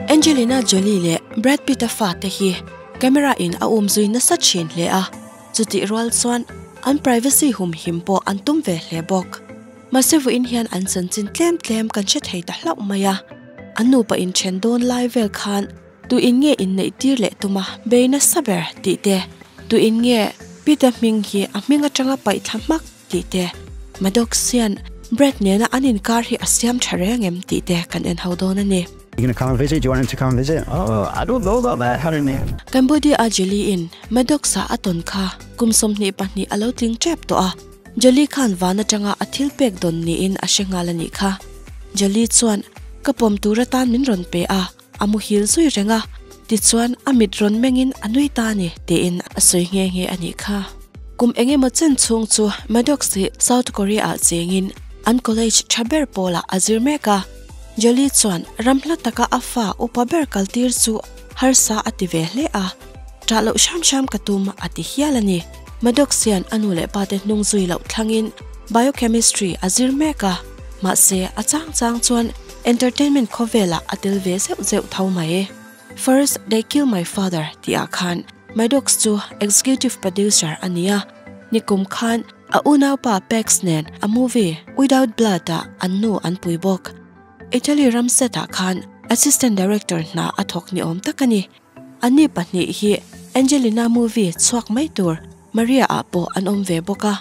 Angelina Jolie leh Brad Pitt-a fate hi camera in a um zui nasa thin hle a, chutih rual chuan an privacy humhim pawh an tum ve hle bawk. Mahse vuiin hian an chanchin tlem tlem kan hre thei ta hlauh mai a, an nupa inthen dawn lai vel khan tu in nge inneih tir leh tum a bei nasa ber tih te, tu in nge Pitt-a hming hi a hming atanga paih thla hmak tih te, Maddoxian bread nena an inkar hi a siam tha reng em tih te kan en ho dawn a ni. Cambodia a jelly in Maddox a a tawn kha kum sawmhnih pahnih a lo tling tep tawh a, jelly khan van atanga a thil pek dawn niin a hre nghal a nih kha. Jelly chuan ka pawm tur atan min rawn pe a, A muhil zui reng a, tichuan a mit rawn mengin a nui ta a ni, tiin a sawi nghe nghe a nih kha. Kum eng emaw chen chhung chu Maddox hi South Korea-ah chengin an college tha ber pawlah a zir mek a. Jolie chuan ram hla taka a fa upa ber kaltir chu harsa a ti ve hle a, Tah loh hram hram ka tum, a ti hial a ni. Maddox hian a nu leh pa te hnung zui loh thlangin biochemistry a zir mek a, mahse a chang chang chuan, Entertainment khawvelah a tel ve zeuh zeuh tho mai. First they kill my father tih ah khan Maddox chu executive producer a ni a, nikum khan a unaupa Pegs nen a movie Without Blood ah an nu an pui bawk. Italy ram set ah khan assistant director hna a thawk ni awm tak a ni. An ni pahnih hi Angelina movie chhuak mai tur Maria ah pawh an awm ve bawk a,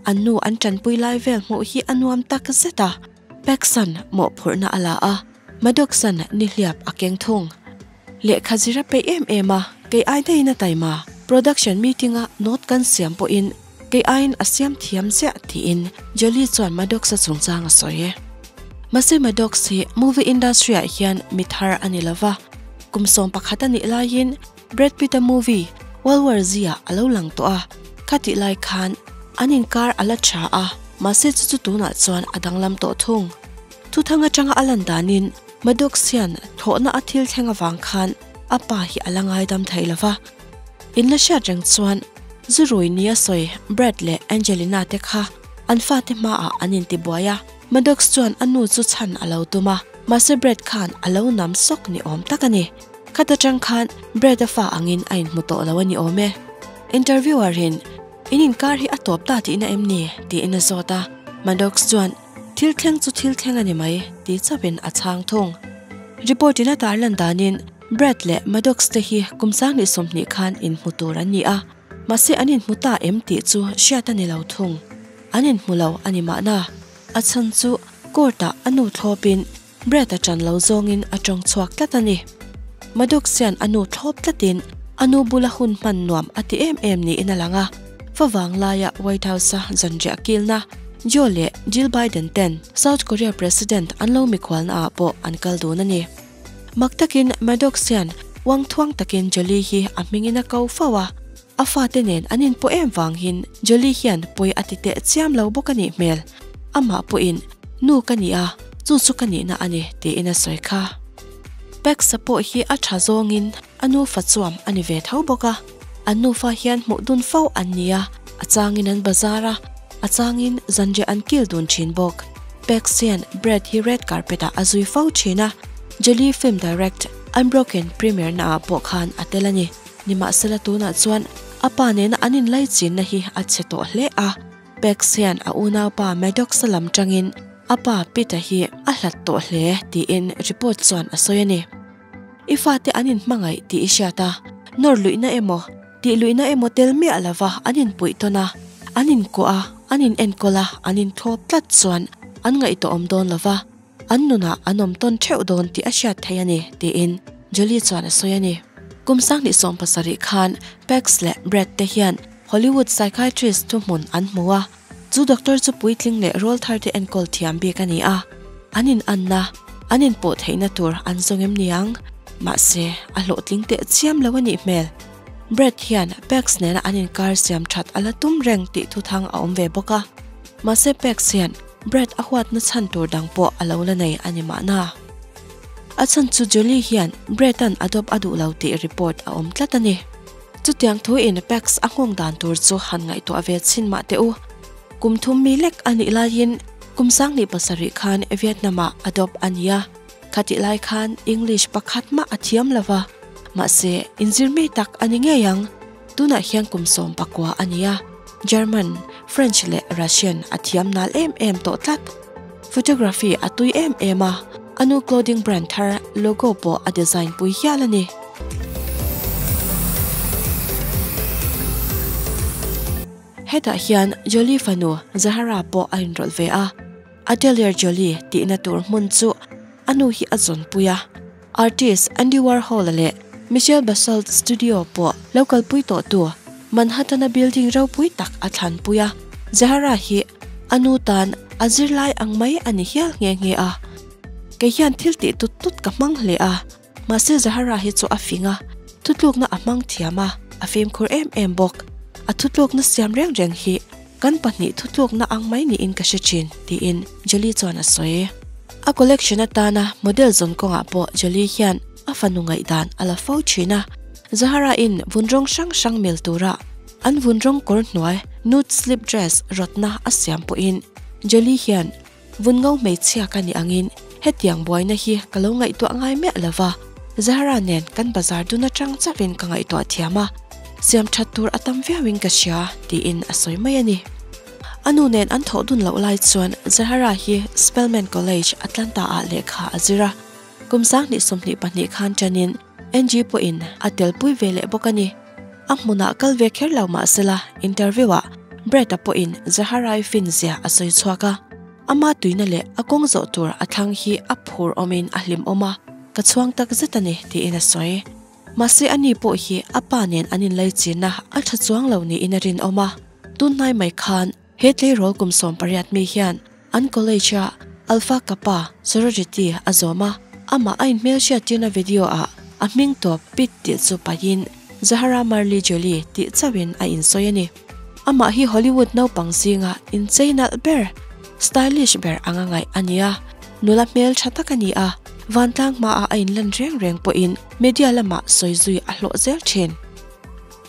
an nu an tanpui lai vel hmuh hi a nuam tak zet a. Peksan mawhphurhna a la a, Madocsan nihliap a keng thung. Lehkha zir a peih em em a, kei ai daiin a taima. Production meeting a note kan siam pawhin kei aiin a siam thiam ziah, tiin Jolie chuan Madocsa chungchang a sawi e. Mahse Madocs hi movie industry-ah hian mithar a ni lova, kum sawm pakhat a nih laiin, Brad Pitt a movie World War Z-ah a lo lang tawh a, khatih lai khan an inkar a la tha a, mahse chu chu tunah chuan a danglam tawh thung. Thuthang atanga a lan danin Maddox hian thawhna a thil thleng avang khan a pa hi a la ngaidam thei lo va, in la hriat reng chuan zu rui ni a sawi Brad leh Angelina te kha an fate hmaah an intibuai a. Maddox chuan a nu chu chhan a lo tum a, mahse Brad khan a lo nam sawk ni awm tak a ni. Khat atang khan Brad a fa angin a inhmu tawh lo a ni awm e. Interviewer in, In inkar hi a tawp ta tihna em ni? tiin a zawt a, Maddox chuan, Thil thleng chu thil thleng a ni mai, ti chauh in a chhang thung. Report in a tar lan danin, Brad leh Maddox te hi kum sang leh sawmhnih khan inhmu tur an ni a, mahse an inhmu ta em tih chu hriat a ni lo thung. An inhmu lo a ni mahna, a chhan chu court ah a nu thlawp in Brett a tan lo zawngin a tawng chhuak tlat a ni. Maddox hian a nu thlawp tlatin a nu bula hun hman nuam a ti em em niin a lang a. Va vang laia White House-a zanriah kilna Joe leh Jill Biden ten South Korea President an lo mikhualnaah pawh an kal dun a ni. Mak takin Maddox hian uangthuang takin Jolie hi a hmingin a ko fo a. A fate nen an inpawh em vangin Jolly hian pawi a ti teh chiam lo bawk a nih hmel. Amah pawhin, Nu ka ni a, chu chu ka nihna a ni, tiin a sawi kha. Pax-a pawh hi a tha zawngin a nufa chuam a ni ve tho bawk a. An nufa hian hmuh dun fo an ni a, a changin an bazar a, a changin zanriah an kil dun thin bawk. Pax hian Brad hi red carpet-ah a zui fo thin a, Jolly film direct, unbroken premiere-na ah pawh khan a tel a ni. Nimahsela tunah chuan a pa nena an inlaichinna hi a chhe tawh hle a. Pex hian a unaupa Maddox-a lam tangin a pa Pitt-a hi a hlat tawh hle tiin report chuan a sawi a ni. I fate an inhmangaih tih i hriat a, nawrluihna emaw, tihluihna emaw tel miah lova an inpuih tawn a, an inkuah a, an inenkawl a, an inthlawp tlat chuan an ngaihtuahawm dawn lova. An nunah an awm tawn theuh dawn tih a hriat theih a ni, tiin Julie chuan a sawi a ni. Kum Sangni sawm pasarih khan Pax leh Brett te hian Hollywood psychiatrist thu hmun an hmu a, chu doctor chu puitling leh rawl thar te enkawl thiam bik a ni a, an inanna, an inpawh theihna tur an zawng em niang? Mahse, a hlawhtling teh chiam lo a nih hmel. Brett hian Pax nena an inkar siam that a la tum reng tih thuthang a awm ve bawk a. Mahse Pex hian Brad a huatna chhan tur dang pawh a lo la nei a ni mahna, a chhan chu Julie hian Brad-a'n adopt a duh lo tih report a awm tlat a ni. Chutiang thuin Pex a nghawng dan tur chu han ngaihtuah ve chhin mah teh u. Kum thum mi lek a nih laiin kum sang ni pasarih khan Vietnam-ah adopt a ni a, khatih lai khan English pakhat mah a thiam lo va, mahse inzir ngei tak a ni ngei ang. Tunah hian kum sawm pakua a ni a, German, French leh Russian a thiam nal em em tawh tlat. Photography a tui em em a, a nu clothing brand thar logo pawh a design pui hial a ni. Hetah hian Jolie fanu Zahara pawh a inrawlh ve a, Atelier Jolie tihna tur hmun chu a nu hi a zawn pui a. Artist Andy Warhol-a leh Michel Basalt Studio pawh lo kalpui tawhtu Manhattan-a building ropui tak a thlanpui a. Zahara hi a nu tan a zirlai ang mai a ni hial nghe nghe a. Kei hian thil tih tut tut ka hmang hle a, mahse Zahara hi chu a fing a, thutlukna a hmang thiam a, a femkhur em em bawk. A thutlukna siam reng reng hi. Kan pahnih thutlukna ang mai niin ka hre thin, tiin Jolly chuan a sawi. A collection atana model zawn kawngah pawh Jolly hian a fanu ngaihdan a la fo thin a. Zahara-in vun rawng hrang hrang mel tura an vun rawng kawr hnuai, nude slip dress, rawtna a siam pawhin Jolly hian Vun ngo hmeichhia ka nih angin hetiang buaina hi ka lo ngaihtuah ngai miah lo va, Zahra nen kan bazar dun atang chauhin ka ngaihtuah thiam a, siam that tur a tam viauin ka hria, tiin a sawi mai a ni. A nu nen an thawh dun loh lai chuan Zahra hi Spelman College, Atlanta ah lehkha a zir a, kum sang hnih sawmhnih pahnih khan tanin, Angie pawhin a telpui ve leh bawk a ni. A hmunah kal ve kher lo mah sela interview-ah Brett-a pawhin Zahara-i fin zia a sawi chhuak a. Ama tuina leh a kawng zawh tur a thlang hi a phur awmin a hlimawm a, ka chhuang tak zet a ni, tiin a sawi. Mahse a ni pawh hi a pa nen an inlaichina a tha chuang lo niin a rinawm a. Tunhnai mai khan He tleirawl kum sawm pariat mi hian an college-a Alpha Kappa sorority a zawm a, amah a inhmelchhiat tirna video-ah a hming tawp Pete tih chu paihin Zahara Marley Jolie tih chauhin a insawi a ni. Amah hi Hollywood naupang zinga inchei nalh ber, stylish ber anga ngaih a nia, nula hmel tha tak a ni a, vantlang hmaah a inlan reng reng pawhin media lamah sawi zui a hlawh zel thin.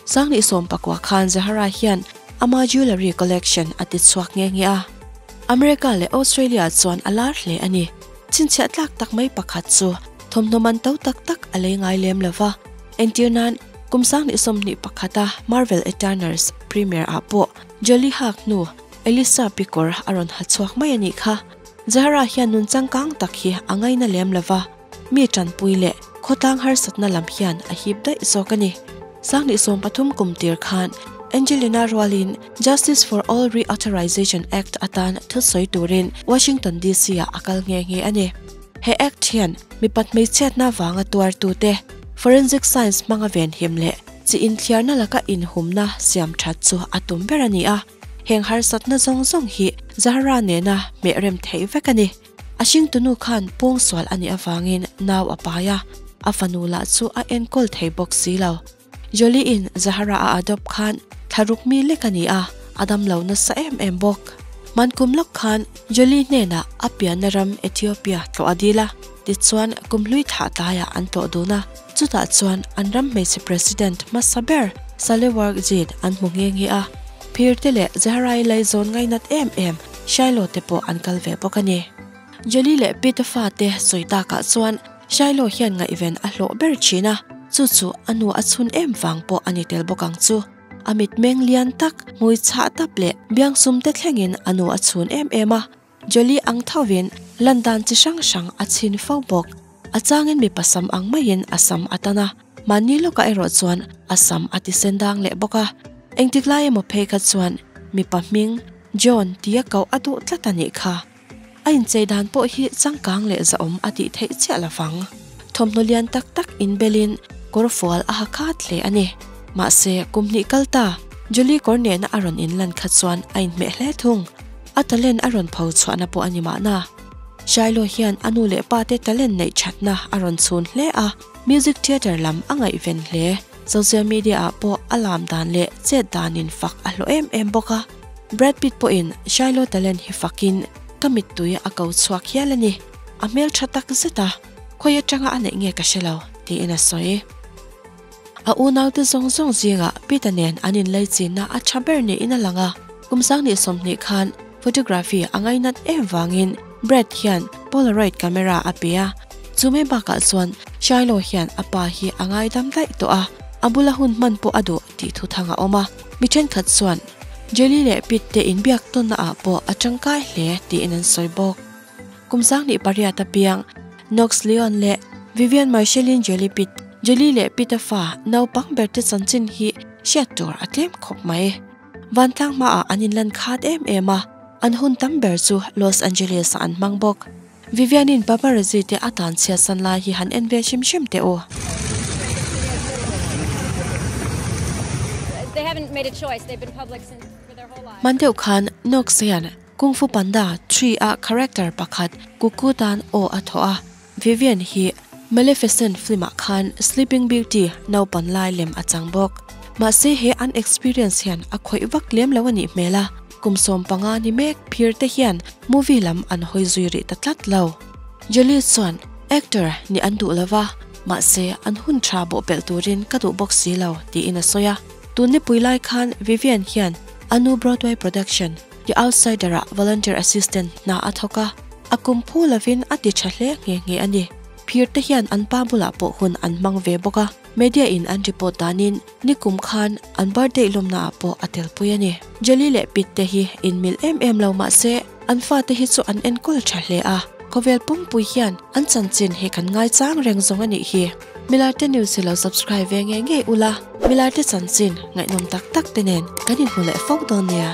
Sanghnih sawm pakua khan Zahara hian ama jewellery collection a tichhuak nghe nghe a. America leh Australia chuan a lar hle a ni. Chhinchhiah tlak tak mai pakhat chu thawmhnaw man to tak tak a lei ngai lem lo va. Entir nan, kum sanghnih sawmhnih pakhata Marvel Eternals premiere ah pawh Jolie hak hnu Elisa pi kawr a rawn ha chhuak mai a nih kha. Zahara hian nun changkang tak hi a ngaina lem lo va. Mi tanpui leh khawtlang harsatna lam hian a hip daih zawk a ni. Sanghnih sawm pathum kum tir khan Angelina rualin Justice for All Reauthorization Act atan thutsawi turin Washington DC-ah a kal nghe nghe a ni. He Act hian mipat hmeichhia hna vanga tuartute forensic science hmanga venhim leh chi inthiarna laka inhumna siam that chu a tum ber a ni a, heng harsatna zawng zawng hi Zahra nena hmehrem theih vek a ni. A hringtunu khan pawng sual a nih avangin nau a pai a, a fanu lah chu a enkawl thei bawk si lo. Jolie-in Zahara a adopt khan thla ruk mi lek a ni a, a damlo nasa em em bawk. Hman kum lak khan Jolie hnenah a pianna ram Ethiopia tlawh a dil a, tichuan kum hlui thlah tlaiah an tlawh dun a. Chutah chuan an ram hmeichhe President hmasa ber Salewarkzin an hmu nghe nghe a, Phir te leh Zehra-i lei zawn ngainat em em Shiloh te pawh an kal ve bawk a ni. Jolly leh Peter fa te sawi takah chuan Shiloh hian ngaihven a hlawh ber thin a, chu chu a nu a chhun em vang pawh a ni tel bawk ang chu. A mitmeng lian tak, hmui chhah tap leh biangsum te thlengin a nu a chhun em em a. Jolly ang thoin lan dan chi hrang hrang a chhin fo bawk. A changin mipa sam ang maiin a sam a tan a, mahni lawkah erawh chuan a sam a ti sen dang leh bawk a. Engtiklai emaw phei kha chuan mipa hming John ti a koh a duh tlat a nih kha. A inchei dan pawh hi changkang leh zahawm a tih theih chiah lovang. Thawmhnaw lian tak tak inbelin kawr fual a ha khat hle a ni. Mahse, kum hnih kal ta Jolly kawr nehna a rawn in lan kha chuan a inhmeh hle thung. a talent a rawn pho chhuahna pawh a ni mahna, Shiloh hian a nu leh pa te talent neih thatna a rawn chhun hle a, Music Theatre lam a ngaihven hle, Social Media ah pawh a lam dan leh chet danin fak a hlawh em em bawk a, Brad Pitt pawhin Shiloh talent hi fakin ka mittui a ko chhuak hial a ni, a hmeltha tak zet a, khawi atanga a neih nge ka hre lo, tiin a sawi. A unaute zawng zawng zingah Pita nen an inleichinna a tha ber niin a lang a. Kum sang ni sawmhnih khan photography a ngainat em vangin Brett hian Polaroid camera a pe a. Chu mai bakah chuan Shiloh hian a pa hi a ngaidam daih tawh a, a bula hun hman pawh a duh tih thuthang a awm a. Mi thenkhat chuan Jelly leh Pitt te inbiak tawnnaah pawh a tangkai hle tiin an sawi bawk. Kum sangni pariat apiang Knox Leon leh Vivian Marcellin Jelly Pit, Jelly leh Pit a fa, naupang berte chanchin hi hriat tur a tlem khawp mai. Vantlang hmaah an inlan khat em em a, an hun tam ber chu Los Angeles-ah an hmang bawk. Vivian-in paparazzi-te a tan chhiatsan lai hi han en vel hrim hrim teh u. Hman deuh khan Knox hian. Kung Fu Panda Three a character pakhat Cuckoo tan aw a thawh a, Vivian hi Maleficent film ah khan Sleeping Beauty naupan lai lem a chang bawk. Mahse he an experience hian a khawih vak lem lo a nih hmel a, kum sawm panga ni mek phir te hian movie lam an hawi zui rih ta tlat lo. Jolie chuan actor ni an duh lova, mahse an hun tha bawhpelh turin ka duh bawk si lo, tiin a sawi a. Tun nipui lai khan Vivian hian a nu Broadway production The Outsider-ah Volunteer Assistant hna a thawk a, a kum phu lovin a ti tha hle nghe nghe a ni. Phirte hian an pa bulah pawh hun an hmang ve bawk a, media-in an report danin ni kum khan an birthday lawmnaah pawh a telpui a ni. Jelly leh Pit te hi inmilh em em lo mahse, an fate hi chu an enkawl tha hle a, khawvel pumpuii hian an chanchin hi kan ngai chang reng zawng a nih hi. Milarte news hi lo subscribe ve ngei ngei ula, Milarte chanchin ngaihnawm tak tak te nen kan inhmu leh fo dawn nia.